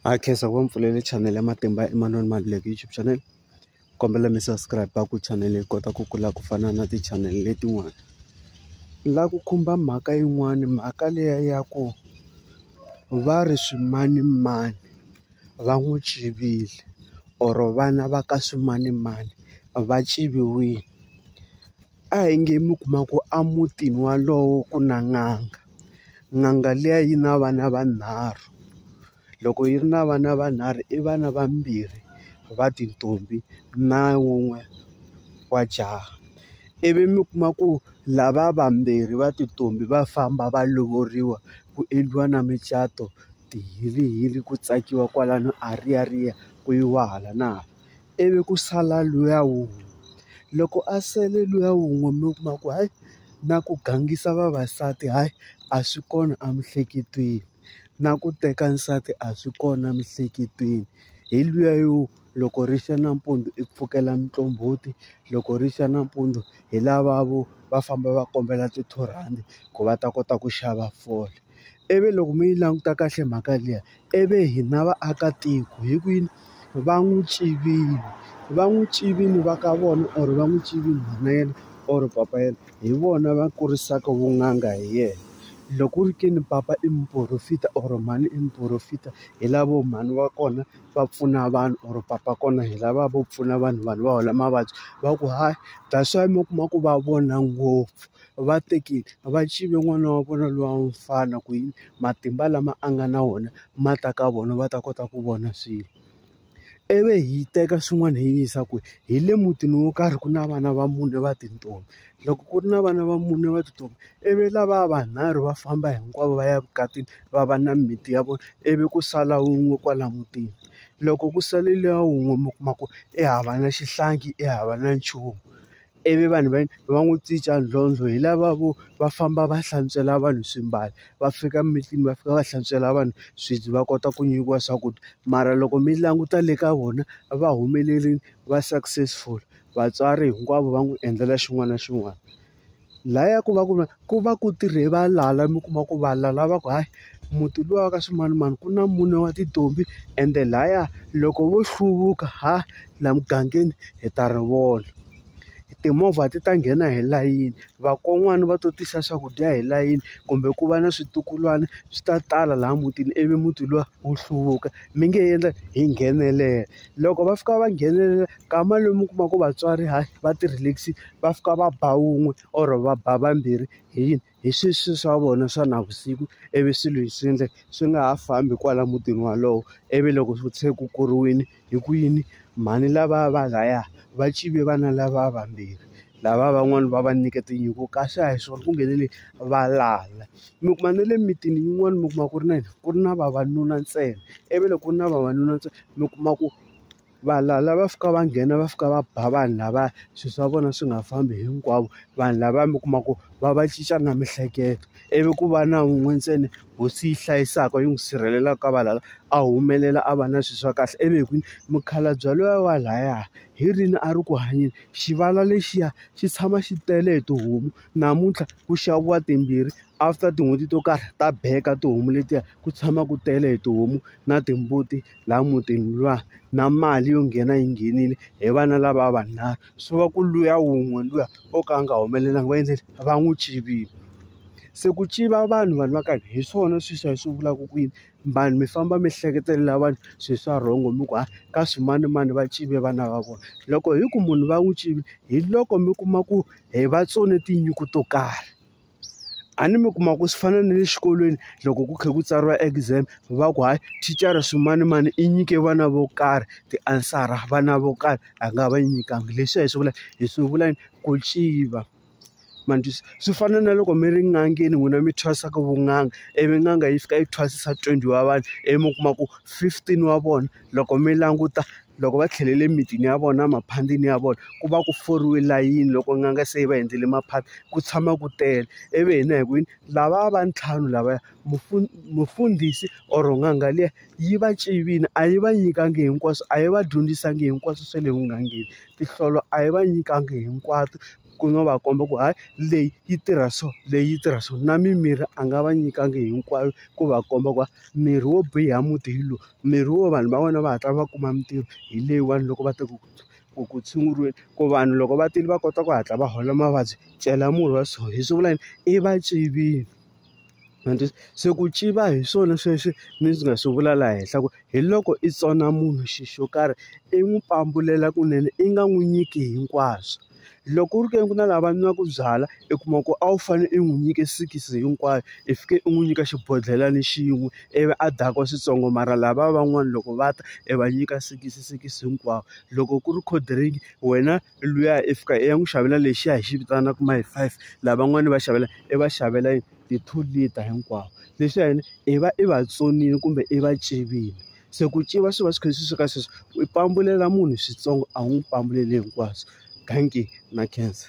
Hi khensa ku va mi pfulele chanele ya matimba Emmanuel Maluleke YouTube channel kombela mi subscribe ku chanele yi kota ku kula ku fana na ti-channel letin'wana ni lava ku khumba mhaka yin'wani mhaka liya ya ku va ri swimanimani va n'wi tswivile or vana va ka swimanimani va tswiviwile. A hi nge mi kuma ku a mutini walowo ku na n'anga n'anga liya yi na vana vanharhu loko yi ri na vana vanharhu i vana vambirhi va tintombi na wun'we wa jaha ivi mi kuma ku lava vambirhi va tintombi va famba va lovoriwa ku endliwa na micato tihilihili ku tsakiwa kwalano a riyariya ku yiwa hala na hala. ivi ku sala luya wun'we loko a sele luya wun'we mi kuma ku hayi na ku gangisa vavasati hayi a swi kona emiehleketweni na ku teka nsati a swi kona emiehleketweni hi luya yo loko ri xa nampundzu i pfukela muqombhoti loko ri xa nampundzu hi lava vo va famba va kombela ti-two rhandi ku va ta kota ku xava fole ivi loko mi yi languta kahle mhaka liya I ve hina vaakatiko hi ku yini va n'wi tswivile? Va n'wi tswivile va ka vona or va n'wi tswivile mhana yena or papa yena, hi vona va kurisaka vun'anga hi yena. Loko ku ri ke ni papa i muporofeta or mhani i muporofeta, hi lavo mhani va kona va pfuna vanhu or papa wa kona hi lava vo pfuna vanhu vanhu va hola mavabyi. Va ku hayi that's why mi kuma ku va vona ngopfu. va teki va tshive n'wana wa vona luya wa mfana ku yini matimba lama a nga na wona ma ta ka vona va ta kota ku vona swilo ivi hi teka swin'wana hi yisa kwihi hi le mutini wo karhi ku na vana va mune va tintombi loko ku ri na vana va mune va tintombi ivi lavaya vanharhu va famba hinkwavo va ya evukatini va va na mimiti ya vona ivi ku sala wun'we kwala mutini loko ku sale luya wun'we mi kuma ku i hava na xihlangi i hava na nchumu. ivi vanhu va va n'wi cinca ntlhontlho hi lava vo va famba va hlantswela vanhu swimbalo va fika mimitini va fika va hlantswela vanhu swibye va kota ku nyikiwa swakudya mara loko mi languta le ka vona a va humeleli va successful vatswari hinkwavo va n'wi endlela xin'wana na xin'wana laya ku va ku va. ku va ku tirhe valala mi kuma ku valala va ku hayi muti luwa wa ka swimanimani ku na mune wa tintombi ende lhaya loko vo hluvuka ha laha mugangeni hi ta ri vona timovha ti ta nghena hi layini vakon'wana va to tisa swakudya hi layini kumbe ku va na switukulwana swi ta tala laha mutini ivi muti luwa wu hluvuka mi nge endla hi nghenelela loko va fika va nghenelela kama lomu u kuma ku vatswari hayi va ti relax-ile va fika va ba wun'we. or va ba vambirhi hi yini hi sweswo swa vona swa navusiku ivi swilo hi swi endle swi nga ha fambi kwala mutini walowo ivi loko ku se ku kuriwile hi ku yini mhani lava va laya va tshive vana lava vambirhi lava van'wani va va nyike tinyiko kasi a hi swona ku nghenele valala mi kuma na le mimitini yin'wani mi kuma ku ri na yini ku ri na vavanuna ntsena ivi loko ku ri na vavanuna ntsena mi kuma ku. Valala va fika va nghena va fika va ba vanhu lava swilo swa vona swi nga fambi hinkwavo vanhu lava mi kuma ku va va cinca na miehleketo ivi ku va na wun'we ntsena hosi yi hlayisaka yi n'wi sirhelelaka ka valala a humelela a va na swilo swa kahle ivi hi ku mukhalabye luya wa lahaya hi rini a ri ku hanyeni xivala lexiya xi tshama xi tele hi tihomu namuntlha ku xaviwa timbirhi after tin'hweti to karhi ta beka tihomu letiya ku tshama ku tele hi tihomu na timbuti. laha mutini luwa na mali yo nghena yi nghenile hi vana lava vanharhu swi va ku luya wun'we luya o ka a nga humelelanga va endleni va n'wi tshiviwa se ku tiva vanhu vanhu va ka hina hi swona sweswi a hi swi vulaka ku yini vanhu mi famba mi hleketelela vanhu swilo swa wrong mi ku hayi ka swimanimani va tshive vana va vona loko hi ku munhu va n'wi tshivi hi loko mi kuma ku hi vatsone tinyungu to karhi. A ni mi kuma ku swi fana na le xikolweni loko ku kha ku tsariwa exam va ku hayi thicara swimanimani i nyike vana vo karhi tiansara vana vo karhi a nga va nyikanga leswiya hi swi vula hi swi vula yini ku nciva ma ni twisa swi fana na loko mi ri en'angeni n'wina mi thwasaka vun'anga ivi n'anga yi fika yi thwasisa twenty wa vanhu ivi mi kuma ku fifteen wa vona loko mi languta loko va tlhelele emitini ya vona emakhandini ya vona ku va ku foriwe layini loko n'anga se yi va endlele maphata ku tshama ku tele ivi hina hi ku yini lava va ntlhanu lavaya mufundhisi or n'anga liya yi va tivile a yi va nyikanga hinkwaswo a yi va dyondzisanga hinkwaswo swa le vugangeni tinhlolo a yi va nyikanga hinkwato. ku no va komba ku hayi leyi yi tirha so leyi yi tirha so na mimirhi a nga va nyikanga hinkwayo ku va komba ku mirhi wo biha muti hi lowu mirhi wo vanhu va wena va hatla va kuma mitirho hi leyiwani loko va ta ku ku ku tshunguriweni ku vanhu loko va tile va kota ku hatla va hola mavabyi cela murhi wa so hi swi vula yini i va tivile. ma ni twisa se ku civa hi swona sweswi mi nga swi vula laha henhla ku hi loko i tsona munhu xi xo karhi i n'wi pambulela kunene i nga n'wi nyiki hinkwaswo loko ku ri ke ni ku na lava nwaka byalwa i kuma ku a wu fanele i n'wi nyike sikisi hinkwayo i fike i n'wi nyika xibodlhelani xin'we ivi a dakwa swintsongo mara lava van'wani loko va ta i va nyika sikisi sikisi hinkwawo loko ku ri cold drink wena. luya i fika i ya n'wi xavela lexiya hi xi vitanaka my five, lavan'wana i va xavela i va xavela ti-two liter hinkwavo. Leswiya yini i va i va tsonile kumbe i va pfimbile. Se ku pfimba swi va swi kha swi suka sweswo, u pambulelo munhu swintsongo a wu n'wi pambuleli hinkwaswo. Dankie na khensa.